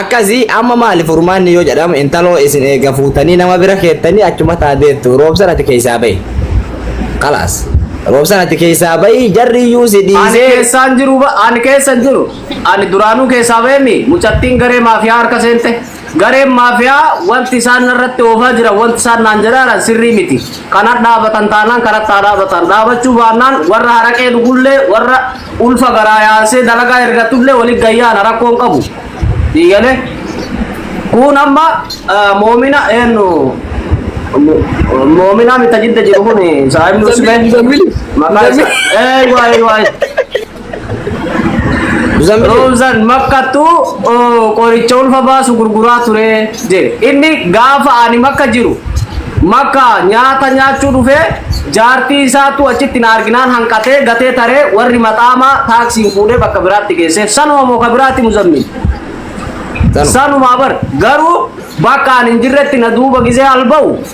akkasi amma maali furmaanni yoo jedhamu intaloo isin eega fuutanii nama bira keettanii achuma taa deettu roobsan ati keessaa bahi kalaas roobsan ati keessaa bahi jarri iyyuu si ani dhiisee keessaan jiru ba- ani keessan jiru ani duraanuu keessaa beemi mucattiin garee maafiyaa harka seente Gareen maafiyaa wanti isaan narratti oofaa jiran, wanti isaan naan jedhaa jiran sirrii miti. Kan hadhaabatan taanaan kanatti haa dhaabatan. Dhaabachuu baannaan warra haraqee dhugullee, warra ulfa garaa yaasee dalagaa ergatullee walitti gad yaana rakkoo hin qabu. Sii galee? Kun amma ah, moomina eenyu mo- moominaa mita jidda jiru kun saahibni usbee Muzammili. maqaa isaa. Ee waa'ee waa'ee. Zambilee. Roobsan makkattu oo, qoricha ulfa baasu gurguraa ture jedhe. Inni gaafa ani makka jiru makka nyaata nyaachuu dhufee jaartii isaatu achitti na arginaan hanqatee gatee taree warri maxaamaa taaksiin fuudhee bakka biraatti geesseef. Sanuma moo ka biraatti muzammiin? Sanuma. Sanumaa bar garuu bakka ani hin jirretti na duuba gisee alba'u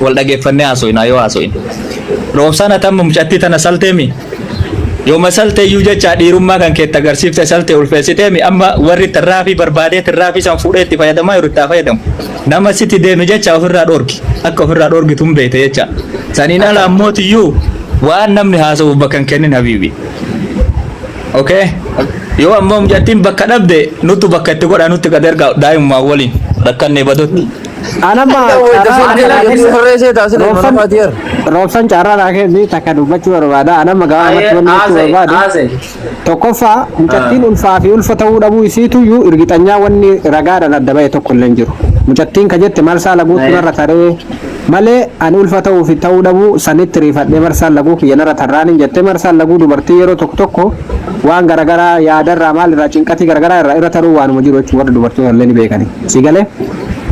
Wal dhageeffannee haaso'inaa yoo haaso'in. Roobsaan ati amma mucattii tana salteemi? Yooma salte iyyuu jecha dhiirummaa kan keetti agarsiifte salte ulfeessiteemi amma warri tirraafii barbaadee tirraafii san fuudhee itti fayyadamaa jiru itti haa fayyadamu. Nama sitti deeme jecha ofirraa dhoorgi. Akka ofirraa dhoorgitu hin beekte jecha. Saniin ala ammooti iyyuu waan namni haasa'uuf bakka hin kennin habiibi. Okay? Yoo ammoo mucattiin bakka dhabde nuttu bakka itti godhaa nutti gad ergaa daa'imummaan waliin rakkannee badutti. Anamma roobsan carraa naa kenni takka dubbachuu barbaada. Anamma gabaa irratti wanni jechuu barbaadu. Tokkoffaa mucattiin ulfaa fi ulfa ta'uu dhabuu isiituyyuu irgixanyaa wanni ragaadhaan adda ba'e tokko illee hin jiru. Mucattiin ka jette marsaa laguutu narra taree malee ani ulfa ta'uu fi ta'uu dhabuu sanitti riifadhee marsaan laguu kiyya narra tarraan hin jette marsaan laguu dubartii yeroo tokko tokko waan garagaraa yaadarraa maalirraa cinqatii garagaraa irraa irra taruu waanuma jiru jechuudha warri dubartoota illee ni beekani. Si galee?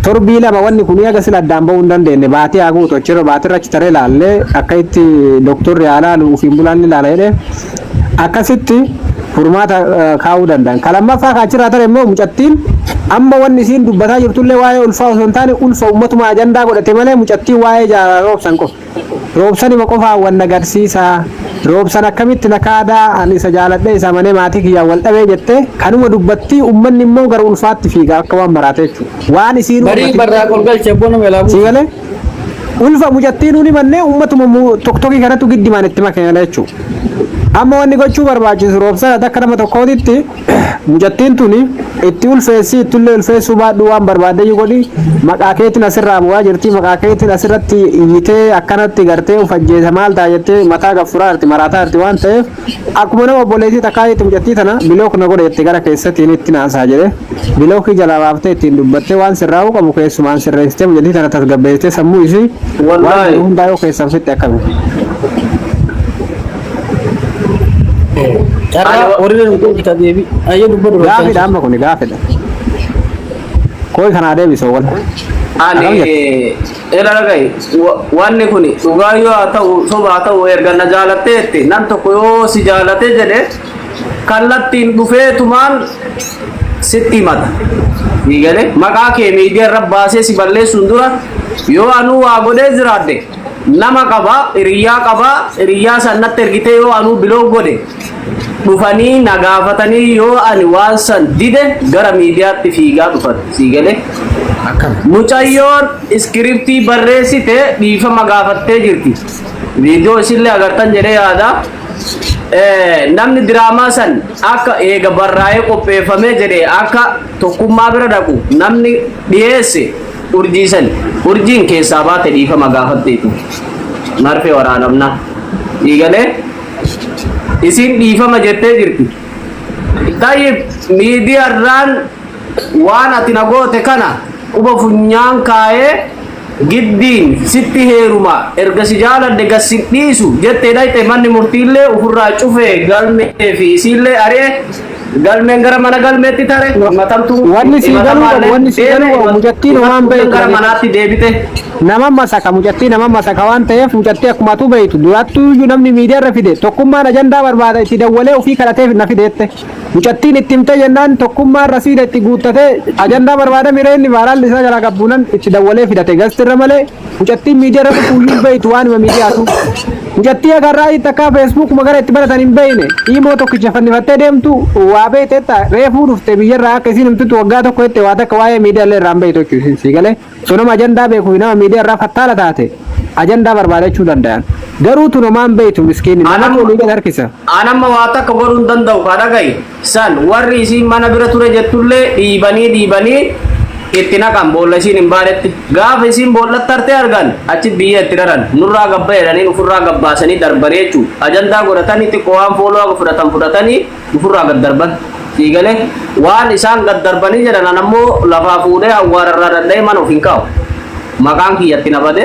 Torbii lama wanni kun eega sila addaan ba'uu hin dandeenye baatii haa guutu achirra baatirra achi taree laallee akka itti doktorri haa laalu ofiin bulaan ni laala jedhee akkasitti furmaata eh, kaa'uu danda'an. Ka lammaffaa ka achirraa tare immoo mucattiin amma wanni isiin dubbataa jirtullee waa'ee ulfaa osoo hin taane ulfa uummatuma ajandaa godhate malee mucattiin waa'ee jaalala roobsan qofa. Roobsanima qofaa wan na gadsiisa roobsan akkamitti na kaada an isa jaaladhe isa amane maatii kiyyaan wal dhabee jette kanuma dubbatti ummanni immoo gara ulfaatti fiiga akka waan maraate jechu waan isiinu Barii ammatin barraa ol galche bona melaa si buusa. gale ulfa mucattiin uni manne ummatuma mu- tokkoki kanatu giddimaan itti makame jechu amma wanni gochuu barbaachisu roobsan akka nama tokkootitti Mucattiin tuni itti ulfeessii ittillee ulfeessuu baadhuu waan barbaaddeyyuu godhi maqaa keetiin asirraa bu'aa jirti maqaa keetiin asirratti iyyitee akkanatti gartee of ajjeesa maal ta'a jettee mataa gaffuraa jirti maraataa jirti waan ta'eef akkuma nama obboleettii takkaa jetti mucattii tana bilook na godhe jettee gara keessatiin itti naasaa jedhe bilookii jalaa baaftee ittiin dubbattee waan sirraa'uu qabu keessumaan sirreessitee mucattii tana tasgabbeessitee sammuu isii waan Wallaahi. jiru hundaa yoo keessan fitte akkami. Carraa warri nu deebita deebi. Ayyee dubba dubba. Gaafidha amma kuni gaafidha. Koi kanaa deebisa wal. Ani ela ragai wanni kun dhugaa yoo haa ta'u soba haa ta'u erga na jaalatteetti nam tokko yoo si jaalate jedhe kallattiin dhufeetumaan sitti himata. Ni galee maqaa kee miidiyaa irra baasee si balleessuun dura yoo anuu waa godhee jiraadde nama qaba hiriyyaa qaba hiriyyaa san natti ergitee yoo anuu biloog godhe dhufanii na gaafatanii yoo ani waan san dide gara miidiyaatti fiigaa dhufan sii galee akkana mucayyoon iskiriptii barreessite dhiifama gaafattee jirti viidiyoo isinillee agartan jedhee yaada Eh, namni diraamaa san akka eega barraa'ee qopheeffamee jedhe akka tokkummaa bira dhaqu namni dhiyeesse Urjii san urjiin keessaa baate dhiifama gaafatteeti. Marfee waraanamna. Dhiigalee isiin dhiifama jettee jirti. Tayyib miidiyarraan waan ati na goote kana quba funyaan kaayee giddiin sitti heeruma erga si jaaladhe gad si dhiisu jettee dhayxe manni murtiillee ofirraa cufee galmee fi isiillee ari'e Galmeen gara mana galmeetti tare himatamtu Wanni sii galuu qabu, himatamaan wanni sii galuu qabu, deeme, mucattiin waan himattuun beektu gara dha. manaatti deebite. Nama masaka mucattii nama masaka waan ta'eef mucattii akkuma atuu beektu durattuu iyyuu namni miidiyaa irra fide tokkummaan ajandaa barbaada itti dawwalee ofii kadhateef na fideette mucattiin itti himte jennaan tokkummaan rasiida itti guuttatee ajandaa barbaada miree inni vaaraalli isaa jalaa qabbuunan itti dawwalee fidate gastirra malee Mucattiin miidiyaa irra dhufuuyyuu hin beektu waanuma miidiyaatu. Mucattii agarraa itti akka feesbuuk magara itti baratan hin beekne imoo tokkicha fannifattee deemtu waa beekte jetta reefuu dhufte biyyarraa akka isiin himtutti waggaa tokko jette waa takka waa'ee miidiyaa illee irraa hin beektu jechuudha isin sii galee osoo nama ajandaa beekuu fi nama miidiyaa irraa fattaala taate ajandaa barbaadachuu danda'an garuu tun homaa hin beektu miskiinni nama Anam- olii gad harkisa. Anamma waa takka godhuu hin danda'u kaa dhaga'i. San warri isiin mana bira ture jettullee dhiibanii dhiibanii itti naqan boolla isiin hin baanetti. Gaafa isiin boollatti harte argan achi biyyee itti raran. Nurraa gabba jedhaniin ufirraa gad baasanii darbanii jechu. Ajandaa godhatanii xiqqo waan fooloo haga fudhatan fudhatanii ufirraa gad darban. Dhiigale waan isaan gad darbanii jedhan anammoo lafaa fuudhee awwaara irraa dhadha'ee mana of hin kaa'u. Maqaan kiyya itti na bade.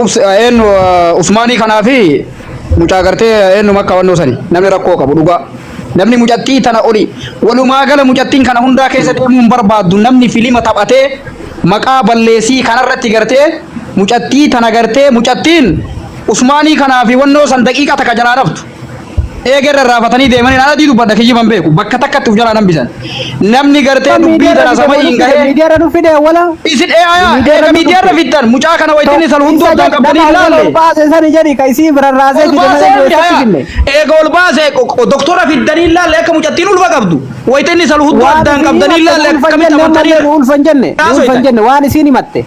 Ups eennu usmaanii kanaa fi mucaa gartee eennu makka wannoo sani namni rakkoo qabu dhugaa namni mucattii tana oli walumaa gala mucattiin kana hundaa keessa deemuu hin barbaaddu namni filima taphatee maqaa balleessii kanarratti gartee mucattii tana gartee mucattiin usmaanii kanaa fi wannoo san daqiiqa takka jalaa dhabdu. Eegerra raafatanii deemanii naan adii dubbadha kijjiban beeku bakka takkatti of jalaa nan bisan. Namni gartee dubbii tana sama hin gahee. Miidiyaarra nu fide wala. Isin eeyaa eega miidiyaarra fiddan mucaa kana wayittiin isan hunduu addaan qabdanii ilaalle. Baase sani jedhi ka isii biraan raasee Ol baasee fide miti hayaa. finne. Eega ol baasee doktora fiddanii ilaalle akka mucattiin ulfa qabdu. Wayittiin isan hunduu addaan qabdanii ilaalle akkamitti amantanii. Ulfan jenne. Kaasoo Ulfan itti. jenne waan isiin himatte.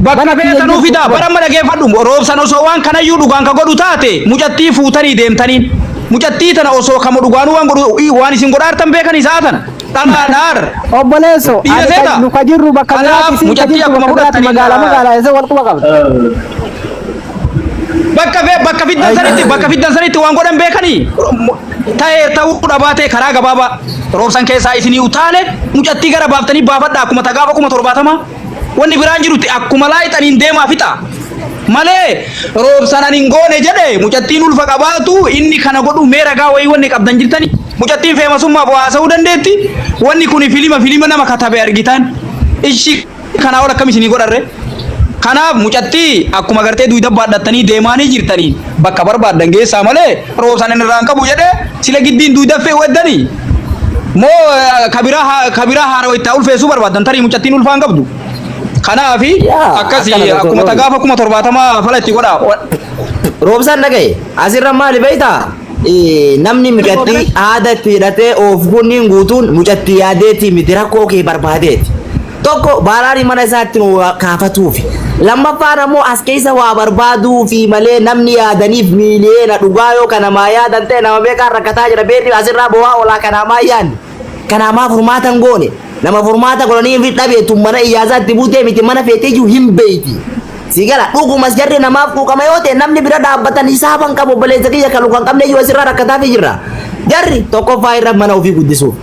Bakka feetan nuu fidaa bara amma dhageeffadhu roobsan osoo waan kanayyuu dhugaan ka godhu taate mucattii fuutanii deemtaniin mucattii tana osoo kama dhugaanuu waan godhu i- waan isin godhaartan beekan isaa tana dhalaa dhaar Obboleesso, Dhiira ani seeta. kan- nu ka jirru bakka Kanaaf biraati, isin ka mucattii jirtu akkuma bakka biraati, fudhattanii magaalaa na- magaalaa isa wal quba qabda. bakka fee bakka fiddan sanitti bakka fiddan sanitti waan godhan beekanii ta'ee ta'uu dhabaatee karaa gabaabaa roobsan keessaa isinii utaale mucattii gara baaftanii baafadha akkuma tagaafa kuma torbaatama Wanni biraan jirutti akkuma laayixaniin deemaa fixa. Malee roobsan ani hin goone jedhe mucattiin ulfa qabaatu inni kana godhu mee ragaa wayii wanni qabdan jirtani. Mucattiin feemasummaaf waa haasa'uu dandeetti. Wanni kun filima filima nama katabe argitaan. Ishi kanaa ol akkam isinii godharre. Kanaaf mucattii akkuma gartee duuda baadhattanii deemaanii jirtanii bakka barbaaddan geessaa malee roobsan inni irraan qabu jedhee sila giddiin duudaffee weddanii moo eh, kabiraa haa- kabiraa haarawa itti haa ulfeessuu barbaadan tarii mucattiin ulfaan qabdu kanaafi Yaa, akkasi akkana tokko akkuma ta'u. tagaafa kuma torbaatamaa fala itti godhaa Roobsaan dhagaye asirra maali beektaa? Eh, Namni mucattii aada itti hidhatee oof kunniin guutuun mucattii yaadeetii miti rakkoo kee barbaadeeti. Tokko baaraani mana isaa itti nu kaafatuufi. Lammaffaan ammoo as keessa waa barbaaduufi malee namni yaadaniif miiliyeena dhugaa yoo kanamaa yaadan ta'e nama meeqaan rakkataa jira beerri asirraa bowaa olaa kanaamaa yaanne. Kanaamaa furmaata hin goone. Nama furmaata godhanii hin dhabe tun mana iyyaasaa itti buutee miti mana feetee iyyuu hin beeyti. Si gala dhugumas jarri namaaf quuqama yoo ta'e namni bira dhaabbatan hisaaban qabu obboleessa kiyya kalu kan qabne iyyuu asirraa rakkataafi jirra. Jarri tokkoffaa irra mana ofii guddisuuf.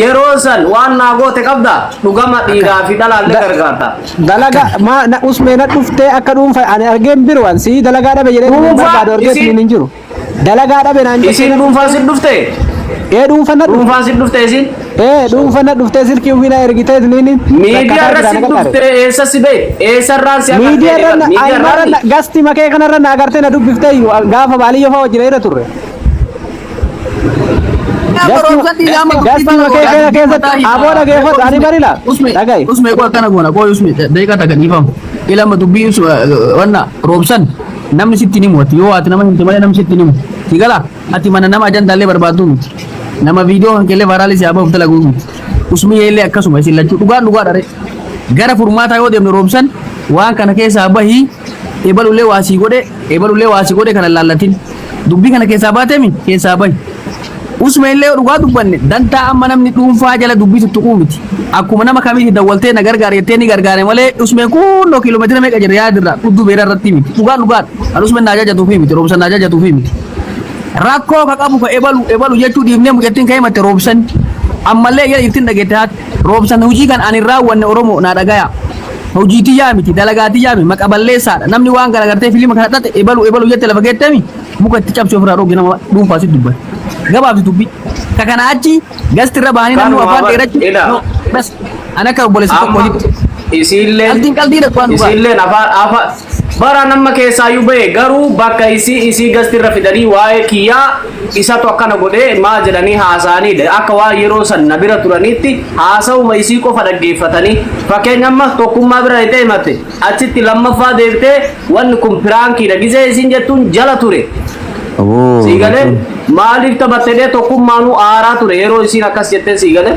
Yeroo san waan naa goote qabda dhugama dhiiraa fi dhalaalle gargaarta. Dalaga ma na usme na dhufte akka dhuunfa ani argeen biru an si dalaga dhabe jedhee Dhuunfaa, barbaadu argee isin- sun hin jiru. Dalaga dhabe naan jettee Isin na dhuunfaa dhufte. sin dhufte? Ee dhuunfa na dhufte. Dhuunfaa sin dhufte isin? Ee dhuunfa na dhufte silkii ofii na ergitee isniin. Miidiyaa irra sin dhufte eessa si bee? Eessa irraan si agartee? Miidiyaa irra na Miidiyaa irraa ayyaana gasti makee kanarra na agartee na dubbiftee iyyuu gaafa baaliyyoo fa'aa wajjin irra turre. Gaskiima kee kana keessatti aboo dhageeffatu ani barila. Dhagahi. Usme koo akkana goona koo usme daqiiqaa takka dhiifamu. Ilama dubbii us wanna roobsan namni sitti ni mooti yoo ati nama himte malee namni sitti ni mooti. Si gala ati mana nama ajandaallee barbaaddu miti. Nama viidiyoo kan keellee vaaraalii si abaaf dalaguu miti. Usmi yeellee akkasuma isin lachuu dhugaan dhugaa dhare. Gara furmaataa yoo deemne roobsan waan kana keessaa bahii ebalullee waa sii godhe ebalullee waa si godhe kana laallatin dubbii kana keessaa baatemi keessaa bahi usme illee dhugaa dubbanne dantaa amma namni dhuunfaa jala dubbii tuttuquu miti akkuma nama kamiiti dawwaltee na gargaare jettee ni gargaare malee usme kunnoo kiiloomeetira meeqa jira yaadirraa dhuddu beera irratti miti dhugaa dhugaa kan usme naa jajatuufi miti roobsan naa jajatuufi miti rakkoo ka qabu ka ebalu ebalu jechuu dhiifnee mucattiin ka'ee matte roobsan ammallee ija ittiin dhageette haati roobsan hojii kan ani raawwanne oromoo naa dhagaya Hojii tiyyaa miti, dalagaa tiyyaa miti, maqa balleessaadha. Namni waan kana gartee filima kana xaxe ebalu ebalu jette lafa geettemi muka itti cabsee ofirraa dhooge nama dhuunfaa sitti dubbata. Gabaabsi dubbii. Ka kana achi gasti irra bahanii namni Kanuma afaan bar- dheerachi. ila. No, bas. Ani akka obboleessa tokko Amma jiru. isiilleen Qaldiin qaldiidha waan dhugaa. isiilleen afaan afaan Baraan amma keessaayu bahe garuu bakka isii isii gasti irra fidanii waa'ee kiyyaa isatu akkana godhe maa jedhanii haasa'anii dha akka waan yeroo san na bira turaniitti haasa'uma isii qofa dhaggeeffatanii fakkeenya amma tokkummaa bira dhayxee himatte achitti lammaffaa deebitee wanni kun piraankiidha gizee isiin jettuun jala ture Aboo Sii galee Rasuul. maaliif taphatte jedhee tokkummaanuu aaraa ture yeroo isiin akkas jettee sii galee.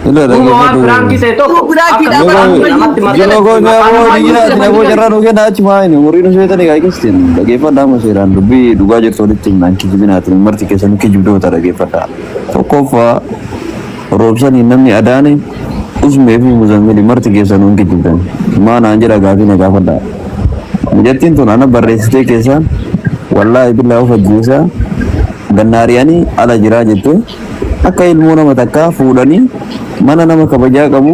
Ila Duuba waan dhaggeeffadhu. firaankii ta'e tokko Yoo firaankii akka dha, firaankii Yoo namatti yoo maxxanee goone maqaan aboo namaa ni iyyuu jiraati aboo carraa nu kenna achi maayini warri nu sheetanii kaa keessatti dhaggeeffadhaa amma seeraan dubbii dhugaa jirtu walitti himnaan kijibinaatiin marti keessanuu kijibdoota dhaggeeffadhaa tokkoffaa Roobsanii namni adaane usmee fi muzammili marti keessan hin kijibdan maa naan jedha gaafii na gaafadha mijattiin tun ana barreessitee keessaan wallaahi billaa of ajjeesaa gannaariyanii ala jiraa jette akka ilmoo nama takkaa fuudhanii mana nama kabajaa qabu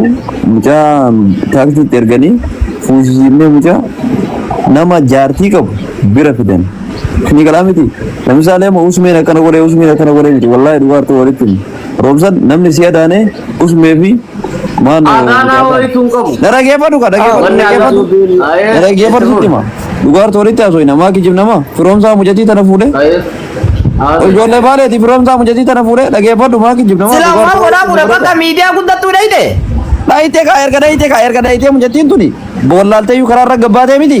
mucaa taaksiitti erganii fuusisiifnee mucaa nama jaartii qabu bira fidan ni galaa miti lamisaalee ma usmeen akkana godhee usmeen akkana godhee miti wallaahi dhugaartuu walitti Roobsan namni si adaane usmee fi maano. Adaanaa wayitu hin qabu. Na dhageeffadhu ka dhageeffadhu Wanni dhageeffadhu. Alaaddin- Ayee, Na dhageeffadhu itti sitti hima. Dhugaartu walitti haasofina maa kijib nama firoomsaa mucatii tana fuudhee. Ayee. Haasofna. Ijoollee baaleeti firoomsaa mucatii tana fuudhee dhageeffadhu maa kijib nama. Sila waan godhaa fuudha bakka miidiyaa guddattuu dhayite. Dhaayitee kaa erga dhaayitee kaa erga dhaayitee mucattiin tuni boollaaltee iyyuu karaa irra gabbaatee miti.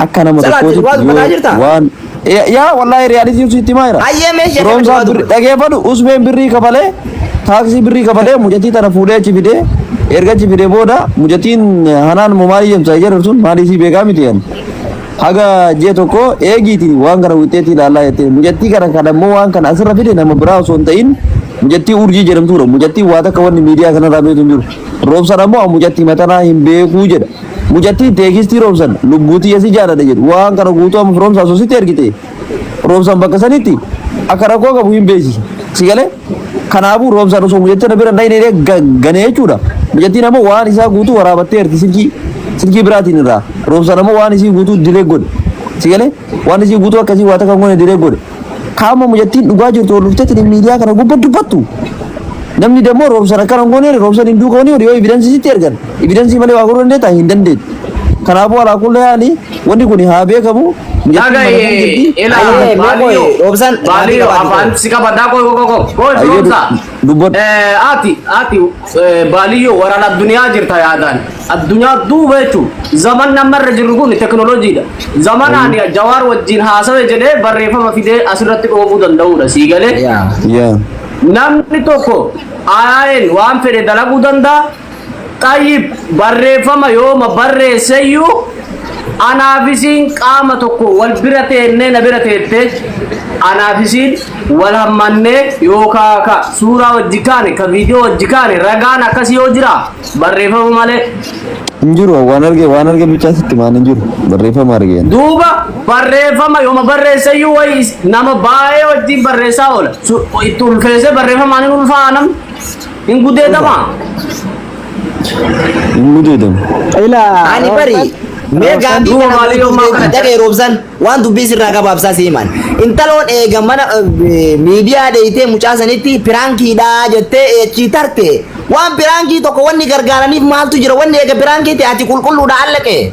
Akka nama Salaati, tokkootitti waa dubbataa jirta? yoo waan Ya- yaa wallaahi riyaalitiin sitti himaa jira. Hayyee mee ishee Firoomsaa kana birri- dubbatu. dhageeffadhu usbeen birrii kafalee taaksii birrii kafalee mucattii tana fuudhee achi fidee erga achi fidee booda mucattiin hanaan immoo maalii jemsaa jedhu sun maalii sii beekaa miti jedhan. Haga jee tokko eegiiti waan kana wixeetti ilaallaa jettee mucattii kana kan ammoo waan kana asirra fide nama biraa osoo hin ta'in mucattii urjii jedhamtuudha. Mucattiin waa takka wanni miidiyaa kanarraa beektu hin jiru. Roobsaan ammoo mucattii matanaa hin beekuu jedha. Mucattii teekistii Roobsan lubbuu tiyya si jaaladha jedhu waan kana guutuu amma firoomsa asoositti ergite Roobsan bakka sanitti akka rakkoo qabu hin beeksisa. Si galee? Kanaafuu Roobsan osoo mucattii na bira hin dhayne illee gane jechuudha. Mucattiin ammoo waan isaa guutuu waraabattee erti silkii silkii biraatiin irraa. Roobsan ammoo waan isii guutuu dilee godhe. Si galee? Waan isii guutuu akkasii waa takka hin goone dilee godhe. Kaama mucattiin dhugaa jirtu ol dhuftee tuni miidiyaa kana gubba dubbattu. Namni dammoo roobsan akkana hin gooneere roobsan hin duuka wanii yoo evidensii sitti ergan evidensii malee waa godhuu dandeetta hin dandeettu. Kanaafuu alaa kulla yaani wanni kun haa beekamu. Mucattiin mana kan jirti. Ayyee, mee qoy, Roobsan, Baaliyoo, maatii qabaate afaan qoy. si qabadhaa qoy qoy qoy qoy Ayyee, firoomsaa. dubbadhu. Ati ati Baaliyyoo waraan addunyaa jirta yaadaan addunyaa duuba jechuun zaman nama irra jirru kun teknooloojiidha. Zamanaan jawaar wajjin haasawe jedhee barreeffama fidee asirratti dhoobuu danda'uudha sii galee. Namni tokko ayaayin waan fedhe dalaguu danda'a. Xayyib barreeffama yooma barreesseyyuu Anaaf isiin qaama tokko wal bira teennee na bira teettee anaaf isiin wal hammannee yookaa ka suuraa wajji kaane ka viidiyoo wajji kaane ragaan akkasii yoo jira barreeffama malee Hin jiru waan arge waan arge bichaa sitti maan hin jiru barreeffama argeen. duuba barreeffama yooma barreessayyuu wayi is- nama baay'ee wajjin barreessaa oola Su- itti ulfeessee barreeffamaan hin ulfaa'a namni Hin gudeedamaa? Hin gudeedamu. Ilaa. Ani bari mee Roobsan gaafii duuba kana maalii yoo maa kana dhaga'e roobsan waan dubbii sirraa gabaabsaa si himan. Intaloon eega mana eh, miidiyaa dheeytee mucaa sanitti piraankiidhaa jettee eechii tarte. Waan piraankii tokko wanni gargaaraniif maaltu jira wanni eega piraankiitti ati qulqulluudha allaqee.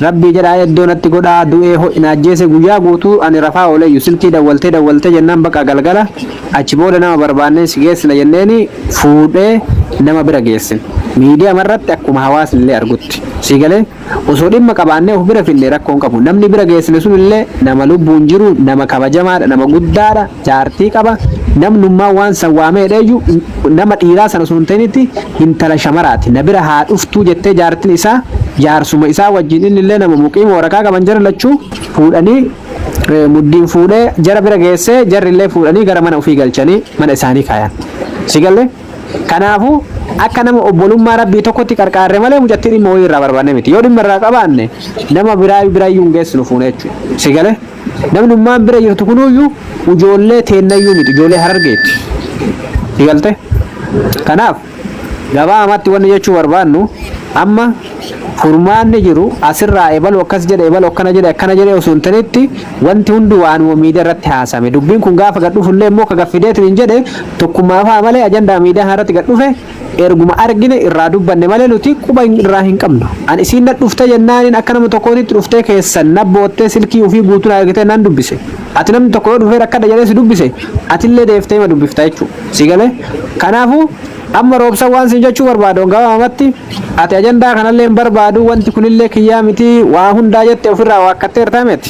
Rabbii jedhaa eddoo natti godhaa du'ee ho'i na ajjeese guyyaa guutuu ani rafaa ooleeyyu silkii dawwaltee dawwaltee jennaan baqa galgala achi booda nama barbaannee si geessina jenneeni fuudhee nama bira geessine miidiyamarratti akkuma hawaasnillee argutti sii galee osoo dhimma qabaannee of bira fidne rakkoon qabu namni bira geessine sunillee nama lubbuun jiru nama kabajamaadha nama guddaadha jaartii qaba namnummaa waan san waamee hidheeyyu nama dhiiraa san osoo hin ta'initti hintala shamaraati na bira haa dhuftuu jettee jaartin isaa jaarsuma isaa wajjin inni illee nama muqiima waraqaa qaban jara lachuu fuudhanii eh, muddiin fuudhee jara bira geessee jarri illee fuudhanii gara mana ofii galchanii mana isaanii kaayan si galle kanaafu akka nama obbolummaa rabbii tokkotti qarqaarre malee mucattii dhimma wayii irraa barbaanne miti yoo dhimma irraa qabaanne nama biraa biraayyuu hin geessinu fuune jechuudha si galee Namni ummaan bira jirtu kunuyyuu ijoollee teennayyuu miti ijoollee harargeeti. Galte. Kanaaf gabaabamatti wanni jechuu barbaannu amma furmaanni jiru asirraa ebalu akkas jedhe ebalu akkana jedhe akkana jedhe osoo hin tanitti wanti hundi waanuma miidiyaa irratti haasame dubbiin kun gaafa gad dhufullee immoo ka gaffideetiin hin jedhe tokkummaa fa'a malee ajandaa miidiyaa irratti gad dhufe Erguma argine irraa dubbanne malee nuti quba irraa hin qabnu. An isiin na dhufte jennaanin akka nama tokkootitti dhuftee keessan na boottee silkii ufii guutuu na ergitee nan dubbise. Ati namni tokko yoo dhufee rakkadha jedhee si dubbise atillee deeftee ima dubbifta jechuu. Si galee? Kanaafuu amma Roobsan waan siin jechuu barbaadu gabaabamatti ati ajandaa kanallee hin barbaadu wanti kunillee kiyyaa miti waa hundaa jette ofirraa waakkatteerta mit?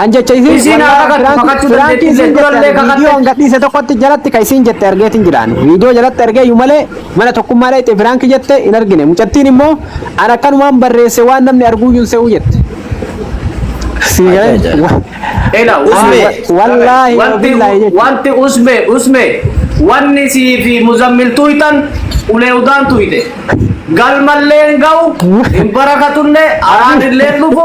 An jecha isiin Isiin haa wallahi kakattu, kakachuu firaanki dandeetti isiin illee, durallee jette kakatte. viidiyoo an gadhiise tokkotti jalatti ka isiin jette argeetiin jiraan viidiyoo jalatti argee iyyuu malee mana tokkummaa dhayxe firaanki jette hin argine mucattiin immoo an akkanumaan barreesse waan namni arguu iyyuu hin se'uu jette. Sii galee? Ajaa'iba. Wa- Ela usme Wa- wallahi wa wanti billahi jechuudha. wanti usme usme wanni sii fi muzammil tuytan ulee udaan tuyte galmalleen ga'u hin barakatunne araadilleen dhufu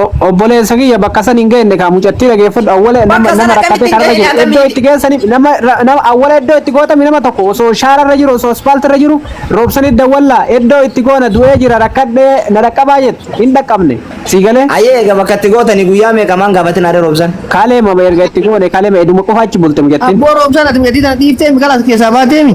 O- Obboleessa kiyya bakka san hin geenne kaa mucattii dhageeffadhu awwala nama Bakka sana nama rakkatee akkamitti kanarra hin jiru geenne iddoo akkamitti? itti geessaniif nama ra- nama awwala iddoo itti gootame nama tokko osoo shaararra jiru osoo aspaaltirra jiru roobsanii dawwallaa iddoo itti goona du'ee jira rakkadhee na dhaqqabaa jettu hin dhaqqabne sii galee Ayee egaa bakka itti gootanii guyyaa meeqa maan gaafatin adda roobsan. kaalee mama erga itti goone kaalee ma eduma qofa achi bulte mucattiin Abboo roobsaan ati miidhagina dhiiftee miqala as keessaa baateemi.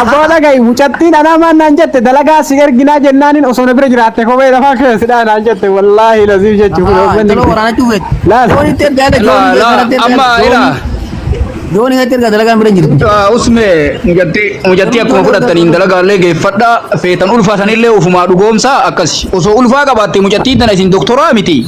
Abbaa dhaga'i mucattiin anaa maan naan jette dalagaa si erginaa jennaanin osoo na bira jiraatte kophee lafaa keessadhaa naan jette wallaahi laziif jechuu kun Ahaa, intala waraanaa cuufeet. Laal. Jooni itti erga haadha, jooni La, la, itti erga, amma jooni- ila. Jooni itti erga dalagaan bira hin jirtu. Usme mujatti mujatti akkuma fudhattaniin dalagaalee geeffadha feetan ulfaatanillee ofumaa dhugoomsaa akkasi osoo ulfaa qabaatte mujattii tana isin doktoraa miti.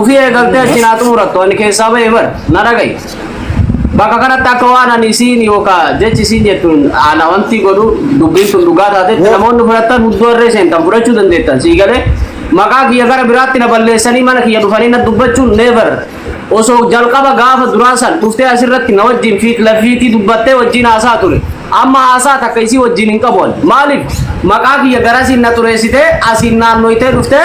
Ufii eegaltee achiin haa xumurattu ani keessaa ba'e bar na dhaga'i. Bakka kanatti akka waan ani isiin yookaan jechi isiin jettuun ana wanti godhu dubbiin sun dhugaa taatetti Woo. namoonni fudhattan hudduu harree seentan fudhachuu dandeettan sii galee maqaa kiyya gara biraatti na balleessanii mana kiyya dhufanii na dubbachuun never osoo jalqaba gaafa duraa san dhuftee asirratti na wajjin fiit lafiitii dubbattee wajjin haasaa ture amma haasaa takka isii wajjin hin qabu ani. maaliif maqaa kiyya garasiin na xureessitee asiin naannoytee dhuftee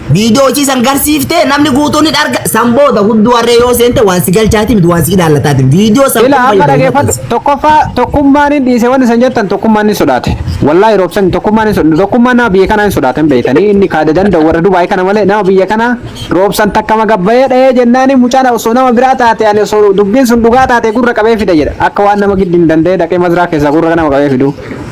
Viidiyoo hojii san garsiiftee namni guutuun ni arga. San booda hudduu harree yoo seente waan si galchaati miti waan si ilaallataati. Viidiyoo san Ila amma dhageeffadhu tokkoffaa tokkummaan hin dhiise wanni san jettan tokkummaan hin sodaate. Wallaahi roobsan tokkummaan hin sodaate. Tokkummaan nama biyya kanaa hin sodaatan beektanii inni kaada danda'u warra Dubaay kana malee nama biyya kanaa roobsan takka magabbayee dhahee jennaani mucaan osoo nama biraa taate ani osoo dubbiin sun dhugaa taate gurra qabee fida jedha. Akka waan nama giddi hin danda'e dhaqee mazraa keessaa gurra nama qabee fidu.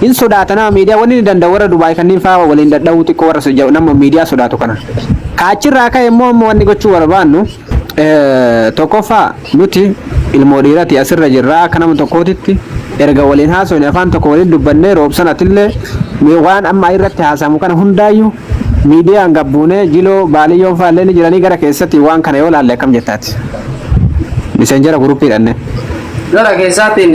Hin sodaata nama miidiyaa wanni ni danda'u warra Dubaay kanniin faa waliin dadha'uu xiqqoo warra so- nama miidiyaa sodaatu kana. Ka achirraa ka'e immoo amma wanni gochuu barbaannu eh, tokkoffaa nuti ilmoo dhiirati asirra jirra akka nama tokkootitti erga waliin haasofne afaan tokko waliin dubbannee roobsan atillee mee waan amma irratti haasamu kana hundaayyuu miidiyaan gabbuunee jiloo baaliyyoon faallee ni jiranii gara keessatti waan kana yoo laalle akkam jettaati. Miseenjera guruppiidhanne. Gara keessaatiin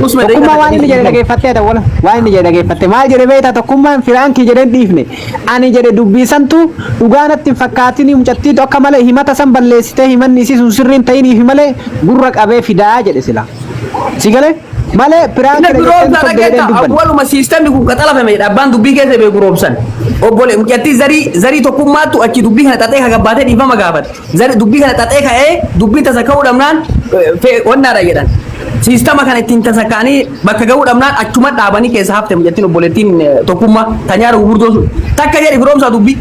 Tokkummaa waan inni jedhe dhageeffattee ta'u wala waan inni jedhe dhageeffatte maal jedhe beektaa tokkummaan firaankii jedheen dhiifne ani jedhe dubbiisantu dhugaa natti hin fakkaatin mucattiitu akka malee himata san balleessitee himanni isii sun sirriin ta'iniif malee gurra qabee fidaa jedhe sila si galee malee firaankii Inni guroomsa dhageetta awwaluma siistemni kun qaxalafame jedha abbaan dubbii keessa bee guroomsan. Obbole mucattii zarii zarii tokkummaattu achi dubbii kana xaxee hagabbaatee dhiifama gaafate. Zari dubbii kana xaxee ka'ee dubbiin tasa ka'uu dhabnaan wannaadha jedhan. Siistama kana ittiin tasa ka'anii bakka ga'uu dhabnaan achuma dhaabanii keessa hafte mucattiin obboleettiin tokkummaa tanyaara gurguddoo sun. Takka jedhi firoomsaa dubbii.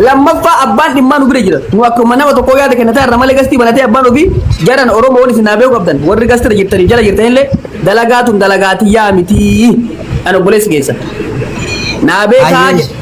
Lammaffaa abbaan dhimmaa nu bira jira. Nu akkuma nama tokkoo yaada kennataa irra malee gastii banatee abbaan ofii jaran Oromoon isin haa beeku qabdan. Warri gastira jirtanii jala jirtan illee dalagaa tun dalagaa tiyyaa mitii. Ani obboleessi keessa. Naa beekaa Ayyee. jedhe.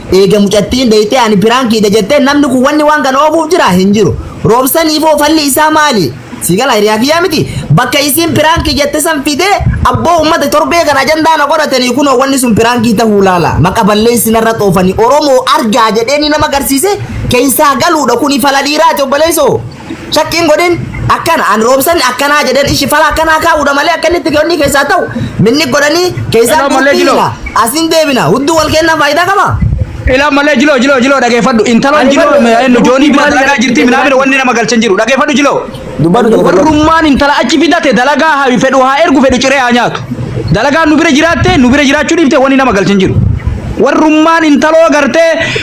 Eega mucattiin deeytee ani piraankiidha jettee namni kun wanni waan kana oofuuf jira hin jiru. Roobsaniifoo falli isaa maali? Si gala hiriyaa kiyyaa miti. Bakka isiin piraankii jette san fidee abboo uummata torbee kana ajandaa na godhatanii kunoo wanni sun piraankii tahuu laala. Maqa balleessi narra xoofanii Oromoo argaa jedheenii nama garsiise keessaa galuudha kuni fala dhiiraati obboleessoo. Shakkiin godhin akkana an roobsan akkanaa jedhan ishi fala akkanaa kaa'uudha malee akka inni xiqqoonni keessaa ta'u minni godhanii keessaa Hello, malee duutii jiloo. hima asiin deebina hudduu wal kennaa faayidaa qaba. Ilaa malee jiloo jiloo jiloo dhageeffadhu intaloon Ani jiloo fadhu, ma- eenyu joonii bira maali dalagaa dha- jirti minaamina wanni nama galchan jiru dhageeffadhu jiloo. Dubbadhu tokko tokko. Warrummaan intala achi fidate dalagaa haa fedhu haa ergu fedhu ciree haa nyaatu. Dalagaa nu bira jiraatte nu bira jiraachuu dhiifte wanni nama galchan jiru. Warrummaan intaloo gartee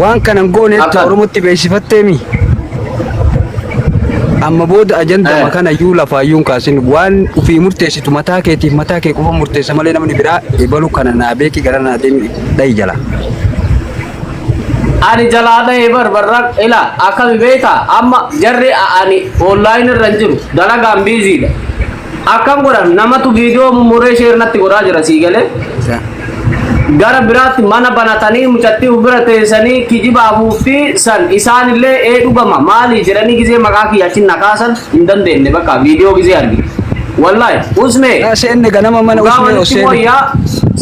Waan kanan goone itti Afan. Oromotti beeksifatteemi. Amma booda ajandama Eh. kana iyyuu lafaa iyyuu hin kaasin waan ofii murteessitu mataa keetiif mataa kee qofa murteessa malee namni biraa ebalu kana naa beeki gara naa deemi dhahi jala. Ani jalaa dhahee barbarran ila akkami beektaa amma jarri a- ani online irra hin jiru dalagaan biiziidha. Akkam godhan namatu viidiyoo mummuree sheer natti godhaa jira sii galee. Gara biraatti mana banatanii mucattii of bira teessanii kijiba afuuffii san isaanillee ee dhugama maali jedhanii gizee maqaa kiyya achi na kaasan hin dandeenye bakka viidiyoo gizee arge. Wallahi usmee Yaa seenne ganama mana dhugaa usmee walitti oseen. mooyyaa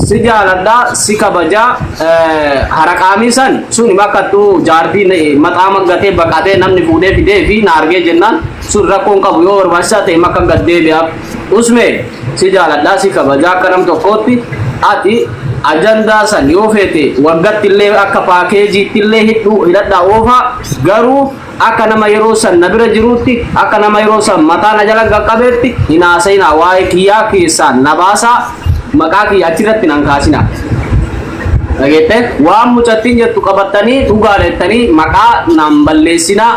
si jaaladhaa si kabajaa eh, haraqaamii san sun bakka tu jaartii maxaa maggatee baqatee namni fuudhee fidee fi na argee jennaan sun rakkoo hin qabu yoo barbaachisaa ta'e makka gad deebi'aaf usmee si jaaladhaa si kabajaa akka nam tokkootti ati ajandaa san yoo feete waggatti illee akka paakeejiitti illee hidhuu hidhadhaa oofaa garuu akka nama yeroo san na bira jiruutti akka nama yeroo san mataa na jala qaqqabeetti hin haasa'inaa waa'ee kiyyaa keessaan na baasaa maqaa kiyya achirratti nan kaasinaa dhageette waan mucattiin jettu qabattanii dhugaa jettanii maqaa naan balleessinaa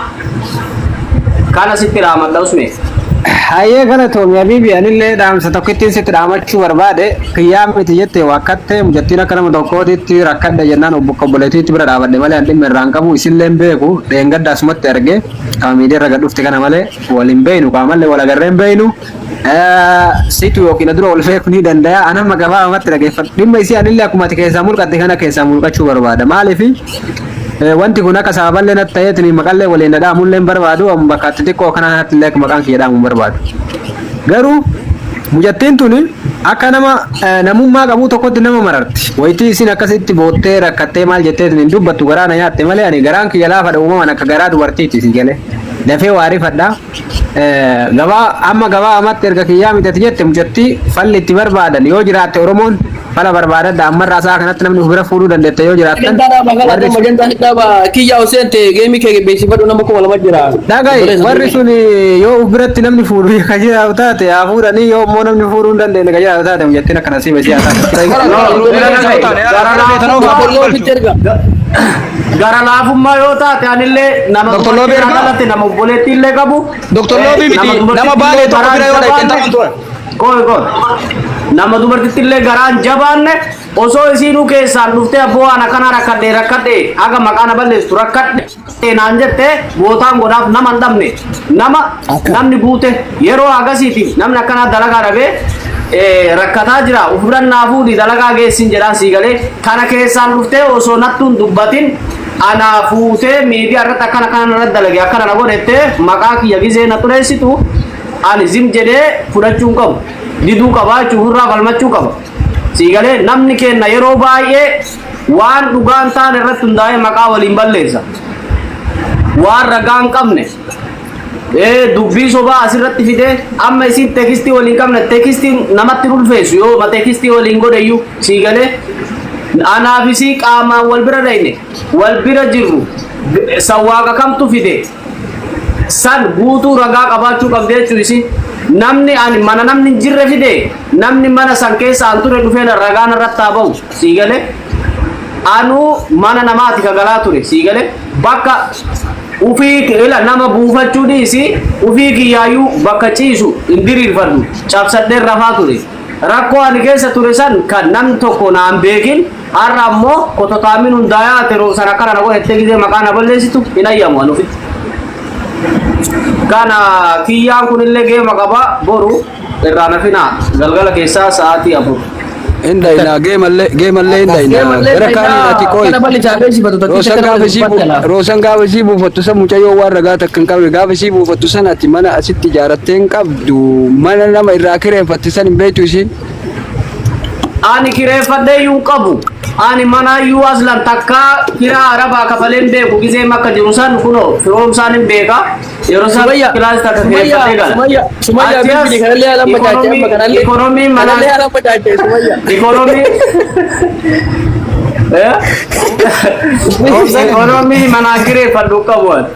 Kana sitti dhaamadha usmee. Hayyee galatoomi habiibi anillee dhaamsa tokkittiin sitti dhaamachuu barbaade kiyyaa miti jette waakkattee mucattiin akka nama tokkootitti rakkadhe jennaan obbo obboleettiitti bira dhaabadhe malee an dhimma irraan qabu isillee hin beeku dheengadda asumatti arge qaama miidiyaa irra gad dhufte kana malee wal hin beeynu qaamallee wal agarree hin beeynu Situ yookiin adura wal feeku ni danda'a. An amma gabaabamatti dhageeffadha. Dhimma isii anillee akkuma ati keessaa mulqatte kana keessaa mulqachuu barbaada. Maaliif wanti kun akka sababallee natti ta'eetiin maqallee waliin na dhaamullee hin barbaadu. Amma bakka itti xiqqoo kana kanatti illee maqaan kiyya dhaamu hin barbaadu. Garuu mucattiin tuni akka nama namummaa qabuu tokkotti nama mararti. Wayitii isin akkasitti boottee rakkattee maal jetteetiin hin dubbattu garaa na nyaatte malee ani garaan kiyya laafadha uumamaan akka garaa dubartiiti si galee. Dafee waa rifadhaa. Gabaa amma gabaa amatti erga kiyyaa midhati jette mucatti falli itti barbaadan yoo jiraatte Oromoon fala barbaadadha ammarraa isaa kanatti namni of bira fuudhuu dandeetta yoo jiraattan Magantaa dhaaba kana warri kan magantaa hin dhaaba kiyyaa osoo hin ta'e geemii kee beeksifadhu nama kuma lama jira. dhagai Obboleessa warri sun yoo of biratti namni fuudhu ka jiraatu taate haa fuudhanii yoo immoo namni fuudhuu hin dandeenye ka jiraatu taate mucattiin akkana siif siyaa taate. Obboleessa ofitti erga. Gara laafummaa yoo taate anillee nama Dr. Loobii dubartiin ergaa? alatti nama obboleettii illee qabu. Dr. eh, Loobii miti, dubartittii nama baalee illee tokko garaan bira yoo dhaqxan jabaanne- taphan turan. Qoy qoy. Nama dubartittii illee garaan jabaanne osoo isiinuu keessaan dhuftee abboo waan akkanaa rakkadhee rakkadhee haga maqaa na balleessu rakkadhee naan jettee bootaan godhaaf nama hin dhabne. Nama Akka. namni guute yeroo hagasiitiif namni akkanaa dalagaa dhabee eh, rakkataa jira ofirra naa fuudhi dalagaa geessin jedhaan sii galee kana keessaan dhuftee osoo nattuun dubbatin anaa fuutee miidiyaa irratti akkana akkana irratti dalage akkana na godhettee maqaa kiyya gizee na xureessitu ani zim jedhee fudhachuu hin qabu diduu qabaa jechuun ofirraa falmachuu qaba sii galee namni keenna yeroo baay'ee Waan dhugaa hin taane irratti hundaa'ee maqaa waliin balleessa. Waan ragaa hin qabne ee, dubbii sobaa asirratti fidee amma isin teekistii waliin qabne teekistii namatti hin ulfeessu yoo ma teekistii waliin godhayyuu sii galee anaafisii qaamaan wal bira dhayne wal bira jirru sawwaaqa kamtu fide san guutuu ragaa qabaachuu qabdi jechuu isi namni ani mana namni hin jirre fide namni mana san keessa an ture dhufee na- ragaa narratti haa ba'u sii galee anuu mana namaati ka galaa ture sii galee bakka ufii ila nama buufachuu dhiisi ufii kiyyaayyuu bakka ciisu hin diriirfadhu cabsadheen rafaa ture Rakkoo ani keessa ture san kan namni tokko na hin beekin har'a ammoo kototaamiin hundaayaa ati roobsan akkana na godhe jettee gizee maqaa na balleessitu hin ayyamu ani ofitti. Kana kiyyaan kunillee geema qaba boru irraa na finaa galgala keessaa sa'aatii afur. Inda ina geemalle geemalle inda ina Geemallee gara kaanii fayyaa irratti qooyi. kana balli jaabee sifatu tokkicha Roosan kana gaafa isii dubbatti bu- laata. roosan gaafa isii buufattu san mucayyoo waan ragaa takka hin qabne gaafa isii buufattu san ati mana asitti ijaarattee hin qabdu. Mana nama irraa kireeffatte san hin beektu isiin. Ani kireeffadhee iyyuu hin qabu. Ani manaa iyyuu aslan takkaa kiraa arabaa kafalee hin beeku gizee makka jiru san kunoo firoomsaan hin beeka. Yeroo san Sumayya, kilaas takka Sumayya, kireeffadhee gala. Sumayya, Sumayya, Achi as bilbili kanallee haala amma taate, amma kanallee- Ikoonomiin manaa. kanallee haala amma taate, Sumayya. Ikoonomii. Eh? Ikoonomii manaa kireeffadhu qabu. ani.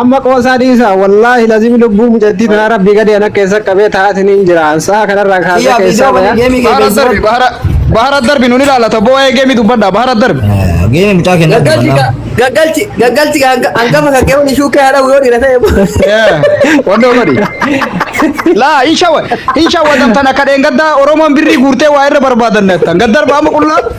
Amma qoosaa dhiisa wallahi lazimi lubbuu mucattii tanaa rabbii gadi ana keessa qabee taa'atiin hin jira sa'a kanarraa kaasee Iyyaa keessaa viidiyoo bane bayaa. geemii kee Bahara darbi beeksisa. bahara bahara darbi nuni laalata boo waa'ee geemii dubbadha bahara darbi. Geemii mucaa kennaa Gaggalchi dubbannaa. gaggalchi gaggalchi hanga- hangafa kan keewwani shuukkee haadha yoo dhiira ta'e. Wandoo godhi. Laa hin shawwa hin shawwa tan akka dheengaddaa Oromoon birrii guurtee waa irra barbaadanne tan gaddarba amma qullaa.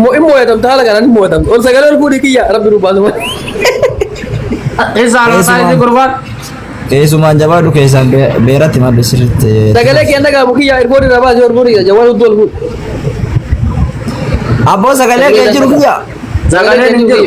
Mo in mooyatamta haala kanaan in mooyatamta. Ol sagalee ol fuudhii kiyya rabbi nu baasuma. Eessaa laa isaa isin gurbaan. Eesumaan jabaadhu keessaan be- beeratti maddu sirriitti. Sagalee kiyya dhagaamu kiyya irboon irraa baasee ol fuudhii kiyya jawwaan hudduu ol fuudhi. Abboo sagalee kee jiru kiyya. Sagaleen hin jiru.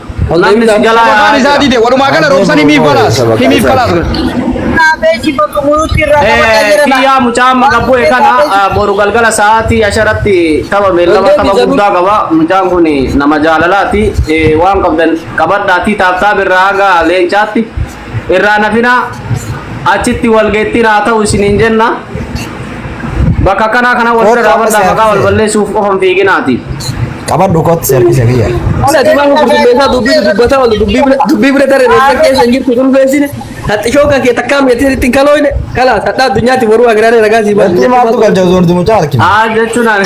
Namni si jalaa Sabakaan yaa'aa isaa jira. dide walumaa gala roobsan himiif balaas himiif balaas. Kaabeeji bakka muruutti irraa qabatee jira. Kiyyaa mucaa amma gabbuu eegana boru galgala sa'aatii asharatti tapha beellama tapha guddaa qaba. Mucaan kun nama jaalalaati. Eh, Waan qabdan qabadhaatii taaptaa birraa haga leencaatti Irraa hin hafinaa achitti walgeettiin haa ta'u isiniin jenna. Bakka akkanaa kana wal bira dhaabadhaa maqaa wal balleessuuf qofa hin fiiginaati. Qabadhu kottu seerkisa kiyya. Ana tumaa gurgurteessaa dubbii dubbata oolu dubbii bira dubbii bira daree reessa keessa hin jirtu kun beeksine haxxishoo kan kee takkaa miidhatee ittiin kalooyne kalaas hadhaa addunyaatti boruu agiraaree ragaa sii Wanti maaltu galcha osoo hundumuu caalkina. Haa jechuun ani.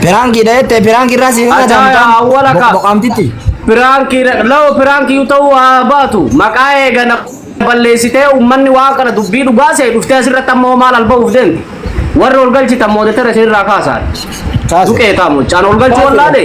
Piraankiidha jettee piraanki irraa siin kana Ajaa'iba, daamtaan awwala ka. boqboqaamtitti. Piraankii lawa piraankii ta'uu haa baatu maqaa eegana balleessitee uummanni waan kana dubbii dhugaa se'e dhuftee asirratti ammoo maal alba'uuf deemti. Warri ol galchitan moodettara isinirraa kaasaan. Kaase. Duqee taamu caan ol galchuu wallaale.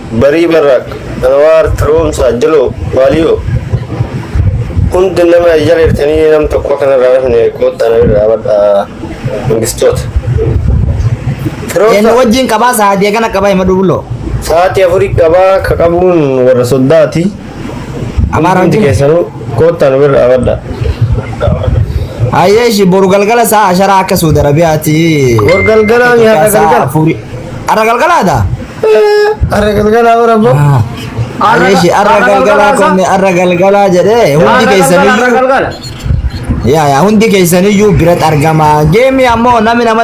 barii barraaq anwaar taroomsaa jiloo waaliyoo hundi nama jala jirtanii nam tokko kana irraa rafne koottaa na irraa badhaa mangistoota. Eenyu wajjin qabaa sa'aatii eegana qabaa hima duubuloo. Sa'aatii afurii qabaa ka qabuun warra soddaati. Amaara Hundi wajjin. keessanuu koottaa na irraa badhaa. Ayyee ishii boru galgala sa'a asharaa akka Suudi Arabiyaati. Boru galgala ni har'a Sa'a galgala? afurii. Har'a galgalaadha? Arra galgalaa bara boo. Areeshi arra galgalaa konni arra galgalaa jedhee hundi keessaniyyuu galgala. yaa yaa hundi keessaniyyuu biratti argama. Geemii ammoo namni nama